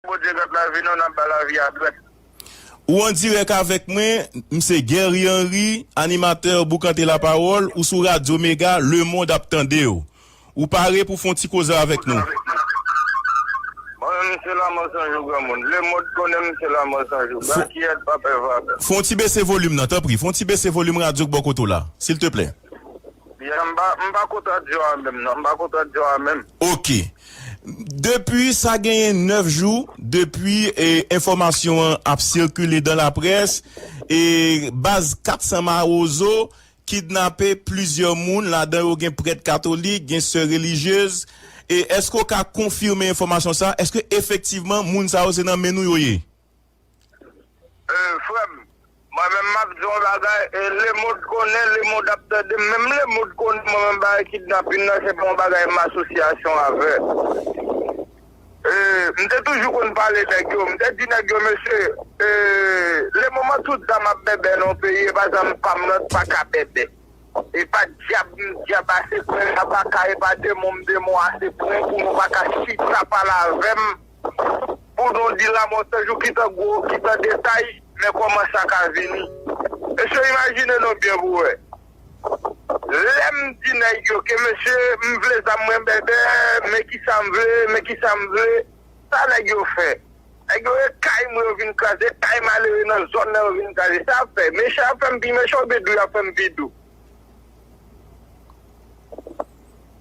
Bondye gad lavi nou nap ba lavi a dwèt. Ou an dirèk avèk mwen, m se Guerry Henry, animatè Boukante La Parole, ou sou Radyo Mega, lemond ap tande w. Ou pare pou w fè yon ti koze avèk nou? Mwen menm m se Lamòt Sanjou Granmoun, lemond konnen m se Lamòt Sanjou, Bakiyèt pa pè vagabon. Fè yon ti bese volim nan, tanpri, fè yon ti bese volim radyo k bò kote w la, silteplè. Byen, m pa kontradikzyon a menm non, m pa kontradikzyon a menm. Ok. Depi sa genyen 9 jou depi enfòmasyon an ap sikile dan laprès, baz 400 mawozo kidnape plizyè moun ladan yo gen prèt katolik, gen sè relijyez, èske ou ka konfime enfòmasyon sa, èske efektivman moun sa yo se nan men nou yo ye? Frèm mwen menm map diw yon bagay lemond konnen lemond ap tande menm lemond konnen mwen menm bagay kidnapin nan se pa yon bagay m asosyasyon avè m te toujou konn pale nèg yo m te di nèg yo mesye le moman tout zam ap bèbè nan yon peyi epa zam pam nan t paka bèbè epa dyab m dyab ase pren m ap aka epa demon m demon ase pren pou nou paka chita pale avèm. Bourdon di lamò san jou ki san gwo, ki san detay, men kòman sa ka vini. Mesye imajine nou byen pou wè. Lè m di nèg yo ke mesye m vle zam mwen bèbè, men kisa m vle, men kisa m vle, sa nèg yo fè? Nèg yo e kay mwen yo vin kraze, kay malere nan zòn nan yo vin kraze. Sa y ap fè? Mechan ap fè m pi mechan oubyen dou y ap fè m pi dou?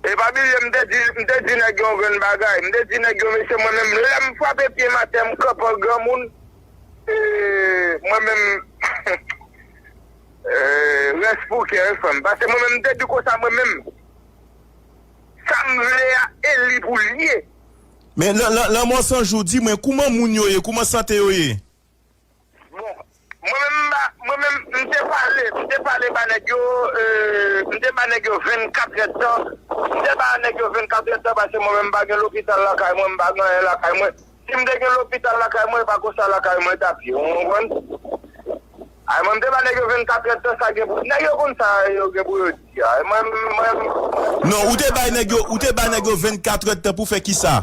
Epa bliye m te di m te di nèg yo yon grenn bagay m te di nèg yo mesye mwen menm lèm frape pye m atè m kanpe an granmoun e mwen menm humm rès pou kè wi frèm pase mwen menm m te di konsa mwen menm sam vle a e li pou l ye. Men lanmò sanjou di mwen kouman moun yo ye kouman sante yo ye. Bon Mwen menm m pa Mwen menm m te pale m te pale ba nèg yo m te ba nèg yo 24 èd tan m te ba nèg yo 24 èd tan paske mwen menm m pa gen lopital lakay mwen m pa gen anyen lakay mwen si m te gen lopital lakay mwen e pa konsa lakay mwen tap ye ou konprann a mwen m te ba nèg yo 24 èd tan sa gen pou nèg yo konn sa yo gen pou yo di a mwen menm mwen menm. Non ou te bay nèg yo ou te ba nèg yo 24 èd tan pou fè kisa?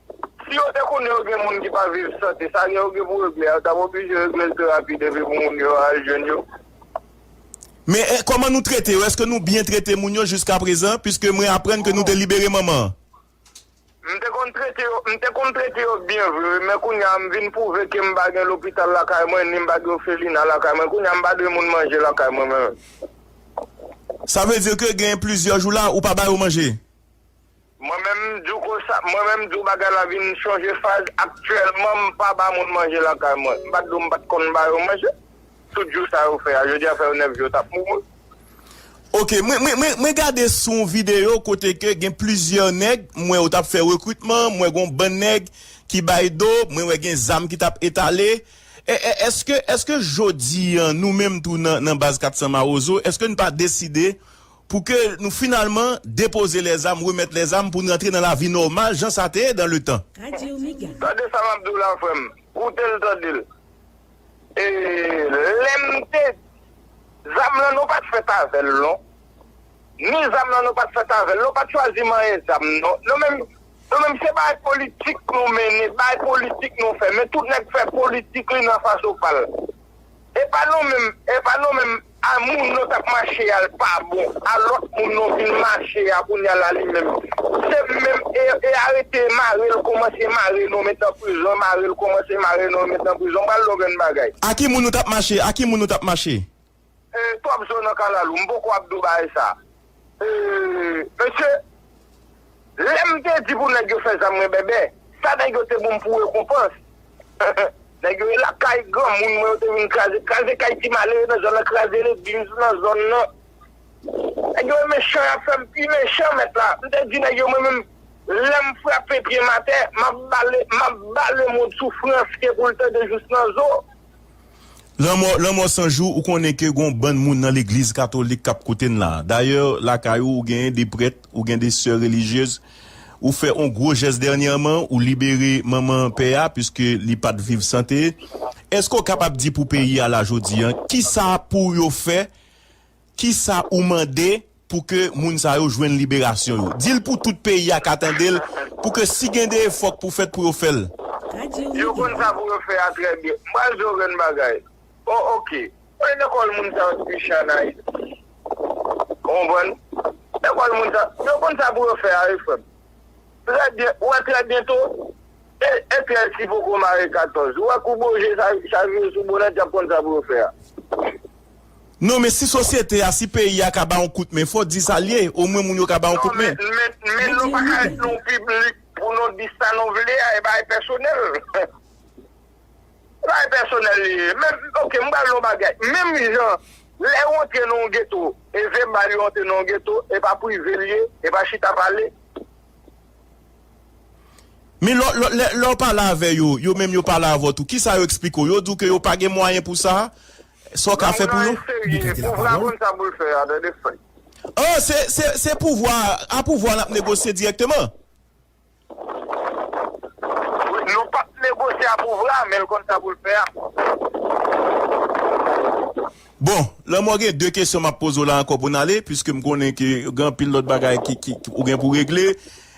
Si yo te konnen yo gen moun ki pa viv sante, sa yo gen pou regle a, yo t ap oblije regle l pi rapid epi pou moun yo al jwenn yo. Men, kòman nou trete yo? Èske nou byen trete moun yo jiskaprezan? Piske mwen aprann ke nou te libere manman an. M te konn trete yo, m te konn trete yo byen vre wi, men kounye a m vin pwouve ke m pa gen lopital lakay mwen, ni m pa gen ofelina lakay mwen. Kounye a m pa dwe moun manje lakay mwen menm. Sa vle di ke gen plizyè jou la, ou pa ba yo manje? Mwen menm m diw konsa, mwen menm m diw bagay la vin chanje faz, aktyèlman m pa ba moun manje lakay mwen, m pa t diw m pa t konn ba yo manje, tout jou sa yo fè a, jodi a fè yo 9 jou yo tap mouri. Ok mwen mwen gade sou yon video kote ke gen plizyè nèg m wè yo tap fè rekritman m wè gon bann nèg ki bay do mwen wè gen zam ki tap etale eske eske jodi an nou menm tou nan nan baz 400 mawozo eske n pa deside pou ke nou finalman depoze lèzam, remèt lèzam pou n rantre nan lavi nòmal jan sa te ye dan le tan. Tande sa map diw la frèm, koutel tandel e lèm te di zam lan nou pat fèt avèl non, ni zam lan nou pat fèt avèl non, pat chwazi manyen zam non, nou menm nou menm se bay politik nou mennen, bay politik nou fè, men tout nèg fè politik li nan fason pal, epa nou menm epa nou menm A moun non tap mache al pa bon a lot moun non vin mache a kounya la li menm se menm e arete marel komanse mare non met nan prizon marel komanse mare non met nan prizon pral lò grenn bagay. A ki moun nou tap mache a ki moun nou tap mache. Twòp zo nan kalalou m poko ap do bagay sa. Eeh mesye lèm te di pou nèg yo fè zam mwen bèbè sa nèg yo te bonm pou rekonpans nèg yo ye lakay granmoun mwen yo te vin kraze kraze kay ti malere nan zòn nan kraze legliz nan zòn nan nèg yo mechan yap fèm pi mechan mèt la m te di nèg yo mwen menm lèm frape pyem atè map bale map bale mond soufrans ke poul tande jous nan zo. Lanmò lanmò san jou ou konnen ke gon bann moun nan legliz katolik kap koute'n la dayè lakay ou ou genyen de prèt ou gen de sè relijyez ou fè on gwo jès dènyèman ou libere manman pè a piske li pat viv sante eske ou kapab di pou peyi a la jodi an kisa pou yo fè Kisa ou mande pou ke moun sa yo jwenn liberasyon yo? Di l pou tout peyi a ka tande l, pou ke si gen de efò k pou fèt pou yo fè l. Yo konn sa pou yo fè a trè byen. M pral di w okenn bagay. O ok. Mwen lekòl moun sa yo depi chen ann Ayiti. Ou konprann? Lekòl moun sa yo. Yo konn sa pou yo fè a wi frè m. Trè byen. Ou wè trè byento? E Etyèl ki poko mare 14. Ou wè kou boje sa vire sou bonèt y ap konn sa pou yo fè a. Non men si sosyete a, si peyi a ka ba yon kout men, fò di sa l ye, omwen moun yo ka ba yon kout men. Non men, men nou pa ka ret nou piblik pou nou di sa nou vle a, e bagay pèsonèl. Se bagay pèsonèl li ye. Menm, ok, m pral di yon bagay, menm jan lè ou antre nan yon geto, e ze bal yo antre nan yon geto, e pa prive l ye, e pa chita pale. Men lè w, lè, lè w pale avè yo, yo menm yo pale avè w tou, kisa yo eksplike w? Yo di w ke yo pa gen mwayen pou sa? Sa w ka fè pou yo? Li ka di lapawòl. Oh, se, se, se pouvwa a, a pouvwa a nap negosye dirèkteman. Wi, nou pap negosye a pouvwa a, men l konn sa pou l fè a. Bon, lanmò gen de kesyon map poze w la ankò pou n ale, piske m konnen ke gen anpil lòt bagay ki, ki, ou gen pou w regle.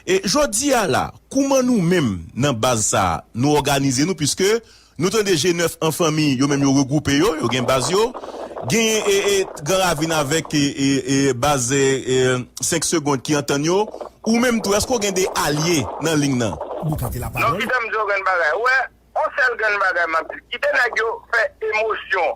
E, jodi a la, kouman nou menm nan baz sa a, nou òganize nou, piske Nou tande je nèf an fanmi yo menm yo regwoupe yo, yo gen baz yo. Genyen Gran Ravin avèk baz 5 segond ki antann yo. Ou menm tou èske w gen de alye nan ling nan? Non kite m di w grenn bagay. Ou wè, on sèl grenn bagay m ap di, kite nèg yo fè emosyon.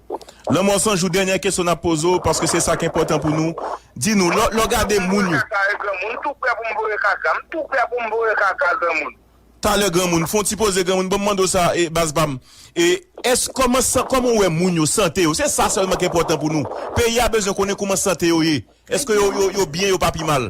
Lanmò san jou dènyè kesyon nap poze w paske se sak enpòtan pou nou di nou lè w gade moun yo. Talè granmoun fon ti poze granmoun banm mande w sa baz pam èske kòman san kòman w wè moun yo sante yo se sa sèlman ki enpòtan pou nou peyi a bezwen konnen kouman sante yo ye èske yo yo byen yo pa pi mal.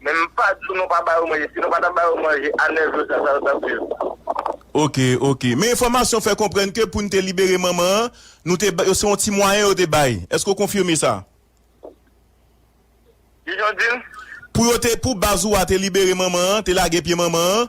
Men m pa di w nou pa ba yo manje, si nou pa ta ba yo manje a 9 jou sa sa yo t ap viv. Ok ok men enfòmasyon fè konprann ke pou n te libere manman an nou te bay se yon ti mwayen yo te bay èske w konfime sa? Kijan w di l? Pou yo te pou baz ou a te libere manman an te lage pye manman an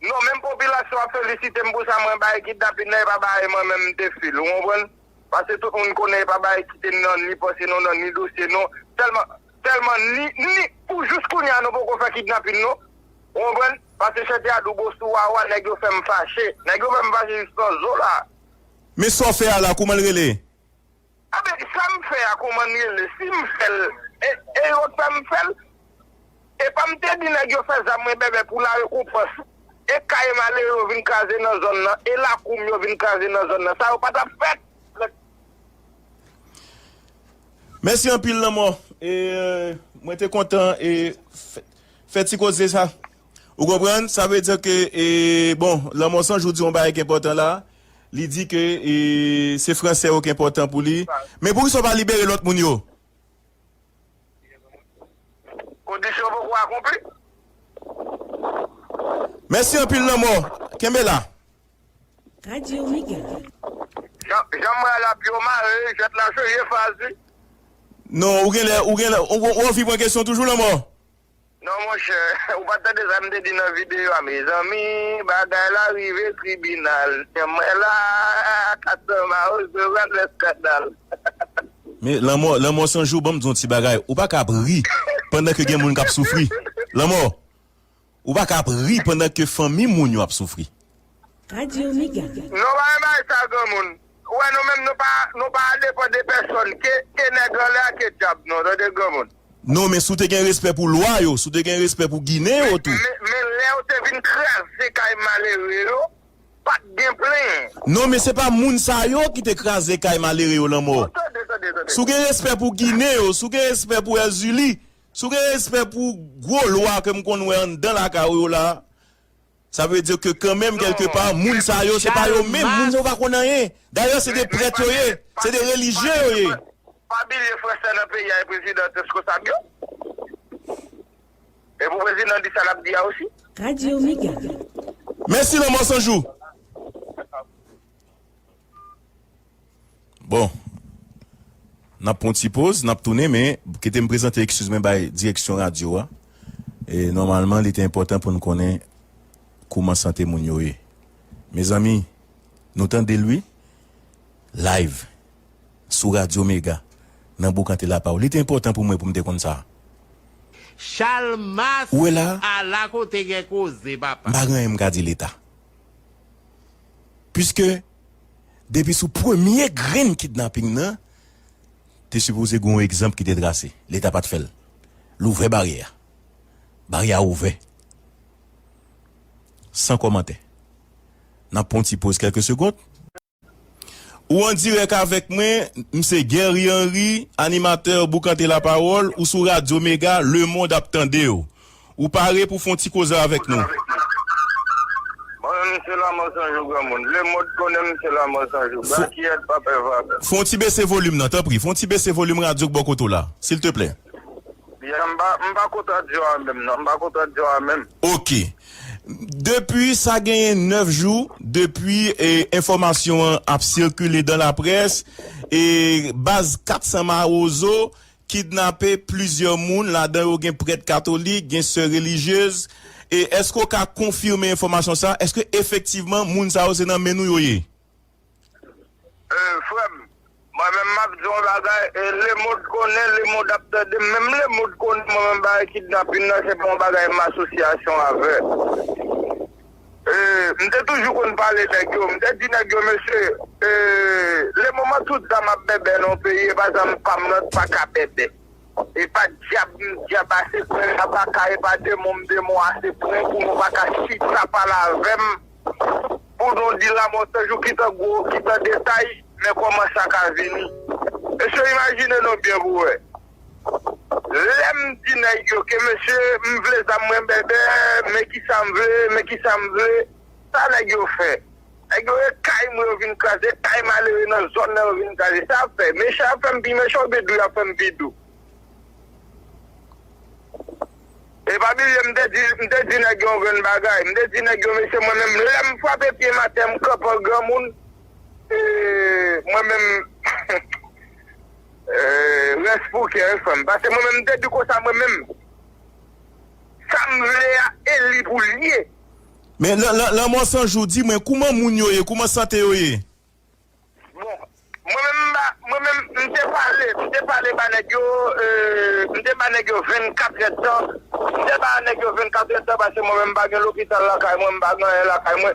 Non menm popilasyon ap felisitem pou sa mwen bay kidnapin nan epa bagay mwen menm mte fil ou konprann pase tout moun konnen epa bagay kitem nan ni panse nou nan ni dosye nou sèlman sèlman ni ni pou jous kounya nou poko fè kidnapin nou ou konprann pase chète a dou bosou wa wa nèg yo fèm fache nèg yo fèm fache jous nan zo la. Men sa w fè a la kouman l rele? Anben sam fè a kouman li rele sim fèl e yo sa m fèl epa m te di nèg yo fè zam mwen bèbè pou la rekonpans e kay malere yo vin kraze nan zòn nan e lakou m yo vin kraze nan zòn nan sa yo pa tap fèt. Mèsi anpil lanmò e mwen te kontan e fè ti koze sa ou konprann sa vle di ke e bon lanmò sanjou di yon bagay ki enpòtan la. Li di ke se franse yo ki enpòtan pou li. Men poukisa ou pa libere lòt moun yo? Kondisyon poko akonpli. Mèsi anpil lanmò. Kenbe la. Radio Mega. Jan m wè la pye w mare, jwèt la chanje faz wi. Non, ou genlè, ou genlè, ou viv an kesyon toujou lanmò? Non monchè ou pat tande sa m te di nan videyo a mezanmi bagay la rive tribinal mwen la Castro Maoso pral fè skandal. Men lanmò lanmò san jou banm di yon ti bagay ou paka ap ri pandan ke gen moun kap soufri lanmò ou paka ap ri pandan ke fanmi moun yo ap soufri. Radio Mega. Non pa bay sa granmoun. Ou wè nou menm nou pa nou pa depan de pèsòn ke ke nèg anlè a ke dyab nou an tande granmoun. Non men si w te gen respè pou lwa yo, si w te gen respè pou ginen yo tou. Men lè yo te vin kraze kay malere yo pat gen plenyen. Non men se pa moun sa yo ki te kraze kay malere yo lanmò. Bon tande tande tande. Si w gen respè pou ginen yo, si w gen respè pou Èzili, si w gen respè pou gwo lwa ke m konn wè anndan lakay ou yo la, Sa vle di ke kanmenm kèlke pa, moun sa yo se pa yo menm, moun sa yo pa konn anyen. Dayè se 2 prèt yo ye, se 2 relijye yo ye. Pa bilye fransè nan peyi a e prezidan reskonsab yo. E pou prezidan di sa lap di a osi. Radio mega. Mèsi lanmò sanjou. Bon Nap pran yon ti poz nap tounen men kite m prezante ekskiz mwen bay direksyon radyo a e nòmalman li te enpòtan pou n konnen kouman sante moun yo ye mezanmi nou tande l wi live sou radyo mega nan boukante lapaw li te enpòtan pou mwen pou m te konn sa a. Chalmas Ou wè la a la kote gen koze papa. M pa gen anyen m ka di leta piske depi sou premye grenn kidnaping nan te sipoze gen yon egzanp ki te trase leta pat fèl l ouvè baryè a baryè a ouvè san kòmantè nap pran yon ti poz kèlke segond. Ou an dirèk avèk mwen, m se Guerry Henry, animatè Boukante Lapawòl, ou sou Radyo Mega, Lemond ap tandew. Ou pare pou fon ti koze avèk nou? Bon men misye lanmò san jou granmoun. Le mond konnen misye lanmò san jou. Brakyèt pa pè vapè. Fon ti bese volim nan tanpri. Fon ti bese volim radyo k bò kote w la. Silteplè. Ya m pa m pa kot radyo a menm non. M pa kot radyo a menm. Ok. Depi sa genyen 9 jou depi enfòmasyon an ap sikile dan laprès e baz 400 mawozo kidnape plizyè moun, ladan yo gen prèt katolik, gen sè relijyez, e èske w ka konfime enfòmasyon sa a, èske efektivman moun sa yo se nan men nou yo ye? Ee frè m, mwen menm m ap di w yon bagay, e lemond konnen, lemond ap tande, menm lemond konnen mwen menm bagay kidnapin nan se pa yon bagay m asosyasyon avè. Eeh m te toujou konn pale nèg yo, m te di nèg yo mesye eeh le moman tout zam ap bèbè nan yon peyi epa zam pam nan t paka bèbè epa dyab m dyab ase pren m pa ka epa demon m demon ase pren pou nou pa ka chita pale avè m pou nou di lamò se jou ki tan gwo ki tan detay men kòman sa ka vini mesye imajine nou byen pou wè. Lèm di nèg yo ke mesye m vle zam mwen bèbè men kisa m vle men kisa m vle sa nèg yo fè nèg yo e kay mwen yo vin kraze kay malere nan zòn nan yo vin kraze sa yap fè mechan yap fèm pi mechan oubyen dou yap fèm pi dou e pa bliye m te di m te di nèg yo yon grenn bagay m te di nèg yo mesye mwen menm lèm frape pyem atè m kanpe an granmoun e mwen menm. Rès pou kè wi frèm pase mwen menm mte di konsa mwen menm Sam vle a eli poul ye. Men lanmò san jou di mwen kouman moun yo ye kouman sante yo ye. Bon mwen menm mba mwen menm mte pale mte pale ba nèg yo mte ba nèg yo 24 rèd tan mte ba nèg yo 24 rèd tan pase mwen menm mpa gen lopital lakay mwen mpa gen anyen lakay mwen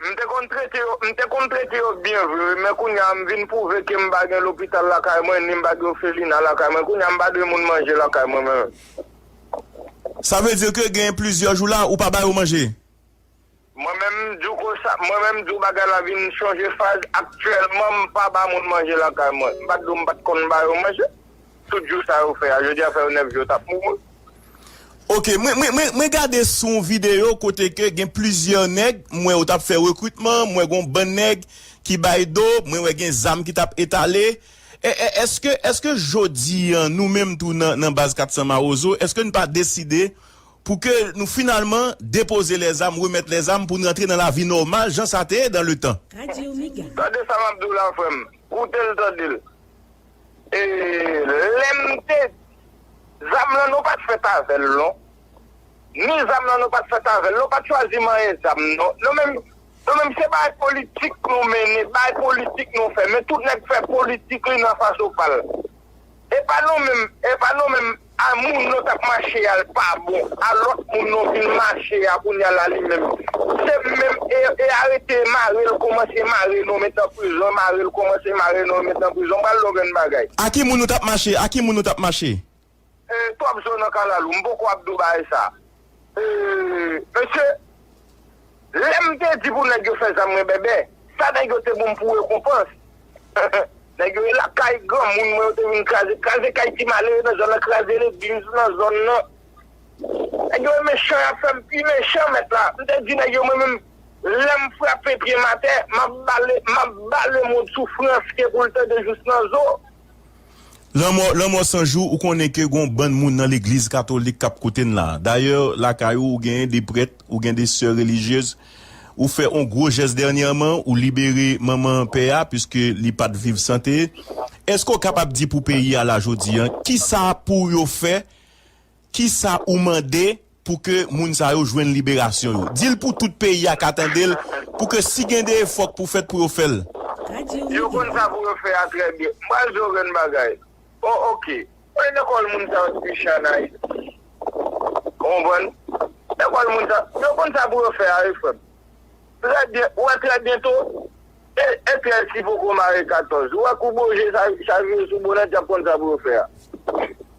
M te konn trete yo m te konn trete yo byen vre wi men kounye a m vin pwouve ke m pa gen lopital lakay mwen ni m pa gen ofelina lakay mwen kounye a m pa dwe moun manje lakay mwen menm. Sa vle di ke gen plizyè jou la ou pa ba yo manje? Mwen menm m di w konsa mwen menm m di w bagay la vin chanje faz aktyèlman m pa ba moun manje lakay mwen m pa di w m pa t konn ba yo manje. Tout jou sa yo fè a jodi a fè yo 9 jou yo tap mouri. Ok mwen gade sou yon video kote ke gen plizyè nèg m wè yo tap fè rekritman m wè gon bann nèg ki bay do mwen wè gen zam ki tap etale eske eske jodi an nou menm tou nan baz 400 mawozo eske nou pa deside pou ke nou finalman depoze lè zam remèt lè zam pou nou rantre nan lavi nòmal jan sa te ye dan le tan. Tande sa map diw la frèm, koutel tandel. E lèm te di. Zam lan nou pat fèt avèl non ni zam lan nou pat fèt avèl nou pat chwazi manyen zam non nou menm nou menm se bay politik nou mennen bay politik nou fè men tout nèg fè politik li nan fason pal epa nou menm epa nou menm A moun nou tap mache al pa bon a lot moun nou vin mache a kounya la li menm se menm e arete e marel komanse mare nou met nan prizon marel komanse mare nou met nan prizon pral lò grenn bagay. A ki moun nou tap mache a ki moun nou tap mache. Twòp zo nan kalalou m poko ap di w bagay sa. Eehh mesye Lem te di pou neg yo fe zam mwen bèbè sa neg yo te bonm pou rekonpans neg yo ye la kay granmoun mwen yo te vin kraze kraze kay ti malere nan zòn nan kraze legliz nan zòn nan neg yo mechan yap fem pi mechan met la m te di neg yo mwen menm lem frape pyem atè map bale map bale moun soufrans ke poul tande jous nan zo. Lanmò lanmò san jou ou konnen ke gon bann moun nan legliz katolik kap koute'n la dayè lakay ou ou genyen de prèt ou gen de sè relijyez ou fè on gwo jès dènyèman ou libere manman pè a piske li pat viv sante eske ou kapab di pou peyi a la jodi an kisa pou yo fè Kisa ou mande pou ke moun sa yo jwenn liberasyon yo? Di l pou tout peyi a ka tande l, pou ke si gen de efò k pou fèt pou yo fè l. Yo konn sa pou yo fè a trè byen. M pral di w grenn bagay. O ok. Kote lekòl moun sa yo te piche an Ayiti? Ou konprann? Lekòl moun sa yo. Yo konn sa pou yo fè a wi frè m. Trè byen. Ou wè trè byento? E eklèsi poko mare 14. Ou wè kou boje sa vire sou bonèt y ap konn sa pou yo fè a.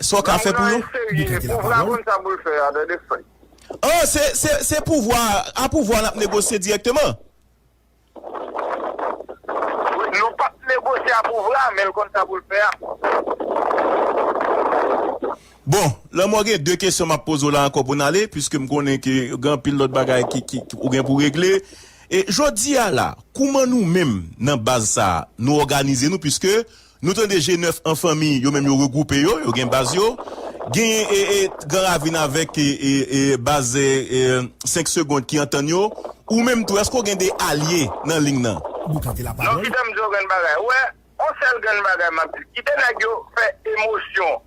Sa w ka fè pou yo? Li prete la pawòl. Oh, se, se, se pouvwa a, a pouvwa a n ap negosye dirèkteman? Wi, nou p ap negosye a pouvwa a, men l konn sa pou l fè a. Bon, lanmò gen de kesyon m ap poze w la ankò pou n ale, piske m konnen ke gen anpil lòt bagay ki, ki, ki ou gen pou regle. E, jodi a la, kouman nou menm nan baz sa a, nou òganize nou, piske Nou tande je nèf an fanmi yo menm yo regwoupe yo, yo gen baz yo. Genyen Gran Ravin avèk baz 5 segond ki antann yo. Ou menm tou èske w gen de alye nan ling nan? Non kite m di w yon grenn bagay. Ou wè, yon sèl grenn bagay m ap di l, kite nèg yo fè emosyon.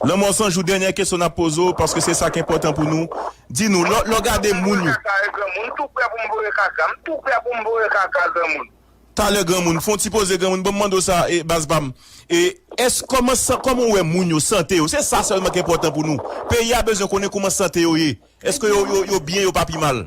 Lanmò san jou dènyè kesyon nap poze w paske se sak enpòtan pou nou di nou lò lò gade moun yo. Talè granmoun fon ti poze granmoun banm mande w sa baz pam e èske kòman san kòman w wè moun yo sante yo se sa sèlman k enpòtan pou nou peyi a bezwen konnen kouman sante yo ye èske yo yo yo byen yo pa pi mal.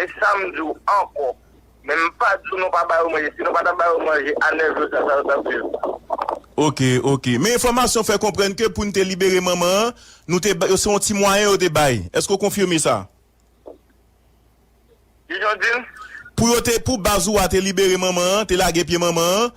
E sa m di w ankò, men m pa di w nou pa ba yo manje, si nou pa ta ba yo manje a 9 jou sa sa yo t ap viv? Ok, ok. Men enfòmasyon fè konprann ke pou n te libere manman an, nou te ba, se yon ti mwayen yo te bay. Èske w konfime sa? Kijan w di l? Pou yo te, pou baz ou a te libere manman an, te lage pye manman an,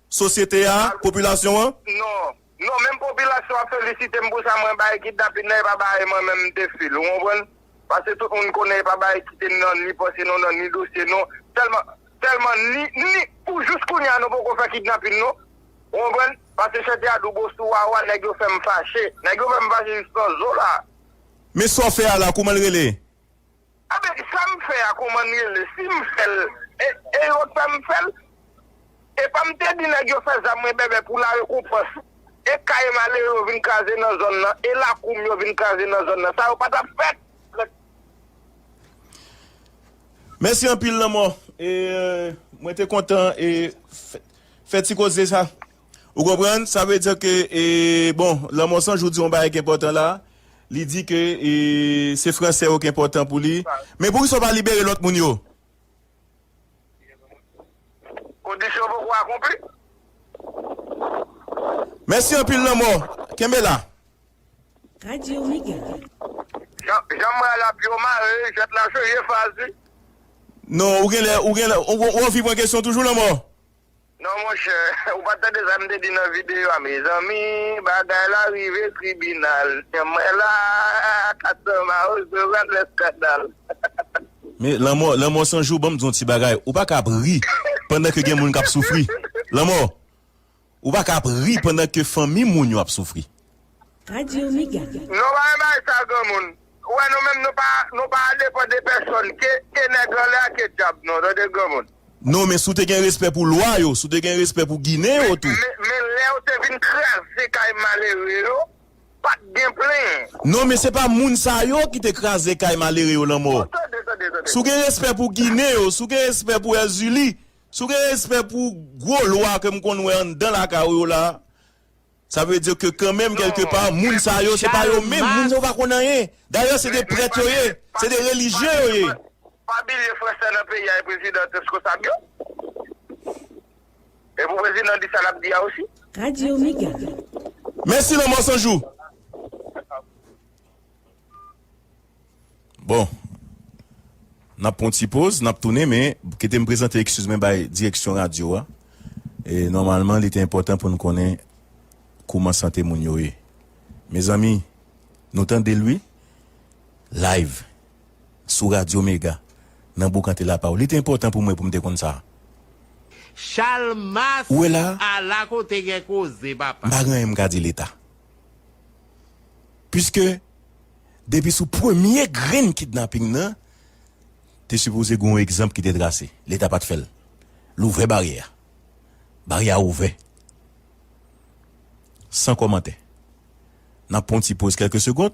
sosyete a, popilasyon an? Non. Non, menm popilasyon an felisite m pou sa mwen bay kidnapin nan e pa bay mwen menm m te fil. Ou konprann? Pase tout moun konnen e pa bay ki te nan ni panse nou, nan ni dosye nou. Sèlman, sèlman ni, ni pou jous kounye a nou poko fè kidnapin nou. Ou konprann? Pase chète a doubo sou wa wa, nèg yo fè m fache. Nèg yo fè m fache jous nan zo la. Men sa w fè a la, kouman l rele? Enben sam fè a kouman li rele sim fèl e yo fèm fèl epam te di nèg yo fè zam mwen bèbè pou la rekonpans e kay malere yo vin kraze nan zòn nan e lakoum yo vin kraze nan zòn nan sa yo patap fèt. Mèsi anpil lanmò e mwen te kontan e fè ti koze sa. Ou konprann? Sa vle di ke, e, bon, Lanmò San Jou di yon bagay ki enpòtan la, li di ke, e, se Franse yo ki enpòtan pou li. Men poukisa ou pa libere lòt moun yo? Kondisyon poko akonpli. Mèsi anpil Lanmò. Kenbe la. Radio Mega. Jan, jan mwen al ap yo mare, jwèt la serye Faz wi. Non, ou genlè, ou genlè, ou, ou anvi pran kesyon toujou Lanmò? Non monchè ou pat tande sa m te di nan videyo a mezanmi bagay la rive tribinal men mwen la Castro mawozo pral fè skandal. Men lanmò lanmò san jou banm di yon ti bagay ou paka ap ri pandan ke gen moun kap soufri lanmò ou paka ap ri pandan ke fanmi moun yo ap soufri. Radio Mega. Non pa bay sa granmoun. Ou wè nou menm nou pa nou pa depan de pèsòn ke ke nèg anlè a ke djab non tande granmoun. Non men si w te gen respè pou lwa yo, si w te gen respè pou ginen yo tou. Men men lè yo te vin kraze kay malere yo pat gen plenyen. Non men se pa moun sa yo ki te kraze kay malere yo lanmò. Bon tande tande tande. Si w gen respè pou ginen yo, si w gen respè pou èzili, si w gen respè pou gwo lwa ke m konn wè anndan lakay ou yo la, Sa vle di ke kanmenm kèlke pa, moun sa yo se pa yo menm, moun sa yo pa konn anyen. Dayè se de prèt yo ye, se de relijye yo ye. Pa bilye fransè nan peyi a e prezidan t reskonsab yo. E pou prezidan di sa lap di a osi. Radio Mega. Mèsi lanmò sanjou. Bon Nap pran yon ti poz nap tounen men kite m prezante ekskiz mwen bay direksyon radyo a e nòmalman li te enpòtan pou nou konnen kouman sante moun yo ye mezanmi nou tande l wi live sou radyo mega nan boukante lapawòl li te enpòtan pou mwen pou m te konn sa a. Chalmas ou wè la a la kote gen koze papa. M pa gen anyen m ka di leta piske. depi sou premye grenn kidnaping nan te sipoze gen yon egzanp ki te trase leta pat fèl l ouvè baryè a baryè a ouvè san kòmantè nap pran yon ti poz kèlke segond.